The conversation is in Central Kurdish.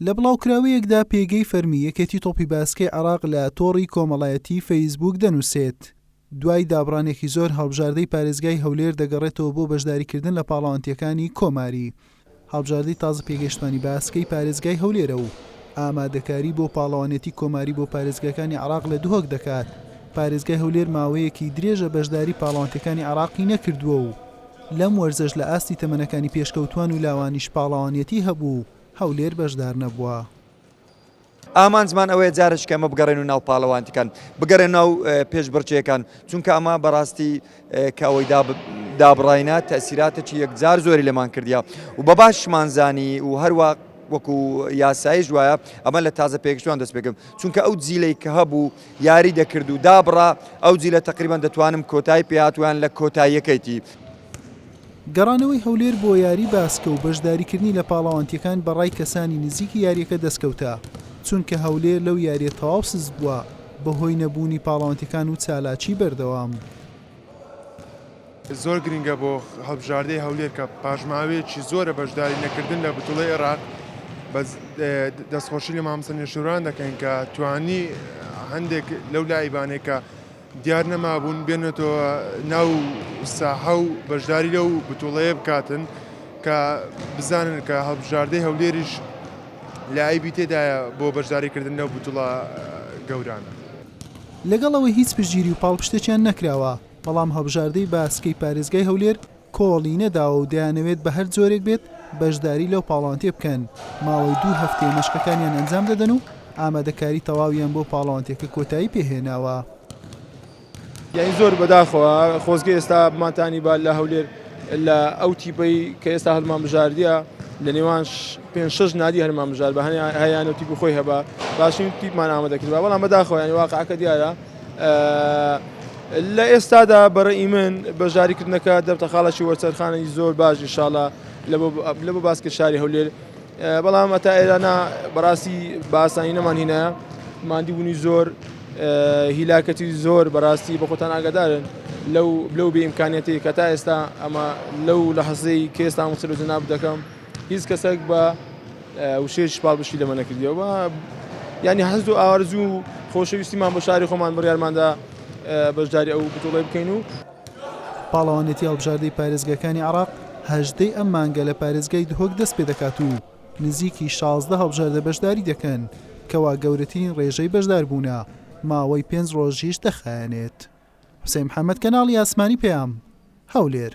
لە بڵاوکراوەیەکدا پێگەی فەرمی یەکێتی تۆپی باسکەی عێراق لە تۆڕی کۆمەڵایەتیی فەیسبووک دەنووسێت، دوای دابڕانێکی زۆر هەڵبژاردەی پارێزگای هەولێر دەگەڕێتەوە بۆ بەشداریکردن لە پاڵەوانتییەکانی کۆماری. هەڵبژاردەی تازە پێگەیشتوانی باسکەی پارێزگای هەولێرە و ئامادەکاری بۆ پاڵەوانێتی کۆماری بۆ پارێزگاکانی عێراق لە دهۆک دەکات، پارێزگای هەولێر ماوەیەکی درێژە بەشداری پاڵەوانتییەکانی عێراقی نەکردووە و لەم وەرزەش لە ئاستی تەمەنەکانی پێشکەوتووان و لاوانیش پاڵەوانیەتی هەبوو و هەولێر بەشدار نەبووە. ئامانجمان ئەوەیە جارێکی کە ئەمە بگەڕێنو ناو پاڵەوانتیکان، بگەرێنو ناو پێشبڕکێکان، چونکە ئەمە بەڕاستی کە ئەوەی دابڕاینە تەئسیراتێکی یەکجار زۆری لێمان کردیە و بە باشیشمان زانی و هەروا وەکو یاسایش وایە ئەمە لە تازە پێگەشتووان دەست پێکرد، چونکە ئەو جیلەی کە هەبوو، یاری دەکرد و دابڕا، ئەو جیلە تەقریبەن دەتوانم کۆتایی پێ هات و یان لە کۆتاییەکەیتی. گەڕانەوەی هەولێر بۆ یاری باسکە و بەشداریکردنی لە پاڵەوانتییەکان بە ڕای کەسانی نزیکی یارییەکە دەستکەوتە، چونکە هەولێر لەو یارییە تەواو سست بووە بەهۆی نەبوونی پاڵەوانتییەکان و چالاکیی بەردەوام. زۆر گرنگە بۆ هەڵبژاردەی هەولێر کە پاشماوەیەکی زۆرە بەشداری نەکردن لە بتوڵی عێراق دەستخۆشی لە مامسە نێشوران دەکەین کە توانی هەندێک لەو لایبانێکە دیار نەمابوون بێنێتەوە ناو ساحە و بەشداری لەو بتوڵەیە بکاتن کە بزانن کە هەڵبژاردەی هەولێریش لایبی تێدایە بۆ بەشداریکردن لەو بتوڵە گەورانە. لەگەڵ ئەوەی هیچ پشتگیری و پاڵپشتێکیان نەکراوە، بەڵام هەڵبژاردەی باسکەی پارێزگای هەولێر کۆڵی نەداوە و دەیانەوێت بە هەر جۆرێک بێت بەشداری لەو پاڵەوانتێ بکەن، ماوەی دوو هەفتەیە مەشقەکانیان ئەنجام دەدەن و ئامادەکاری تەواویان بۆ پاڵەوانتێکە کۆتایی پێ هێناوە. یانی زۆر بەداخەوە خۆزگە ئێستا بمانتانیبا لە هەولێر لە ئەو تیپەی کە ئێستا هەڵمانبژاردیە لە نێوان پێنج شەش نادی هەرمان بژاربا هەنێ هەیانە و تیپی خۆی هەبا باشترین تیپمان ئامادە کردبا بەڵام بەداخەوە یانی واقعەکە دیارە لە ئێستادا بەڕێی من بەژاریکردنەکە دەبتە خاڵێکی وەرچەرخانەی زۆر باش ئیشاڵا لە بۆ باسکە شاری هەولێر بەڵام ئەتا ئێرانە بەڕاستی باسانی نەمان هینە مادی بوونی زۆر هیلاکەتی زۆر بەڕاستی بە خۆتان ئاگادارن لەو لەو بێ ئیمکانەتی کە تا ئێستا ئەمە لەو لە حەزەی کێستان وسەر و جەناب دەکەم هیچ کەسەک بە وشەیەکیش پاڵپشتی لەمە نەکردیەوە و یانی حەز و ئارزوو و خۆشەویستیمان بۆ شاری خۆمان بڕیارماندا بەشداری ئەو بتوڵەی بکەین و پاڵەوانێتی هەڵبژاردەی پارێزگاکانی عێراق هەژدەی ئەم مانگە لە پارێزگای دهۆک دەست پێ دەکات و نزیکی شازدە هەڵبژاردە بەشداری دەکەن، کەوا گەورەترین ڕێژەی بەشداربوونە، ماوەی پێنج ڕۆژیش دەخایەنێت. حوسێن محەمەد، کەناڵی ئاسمانی پەیام، هەولێر.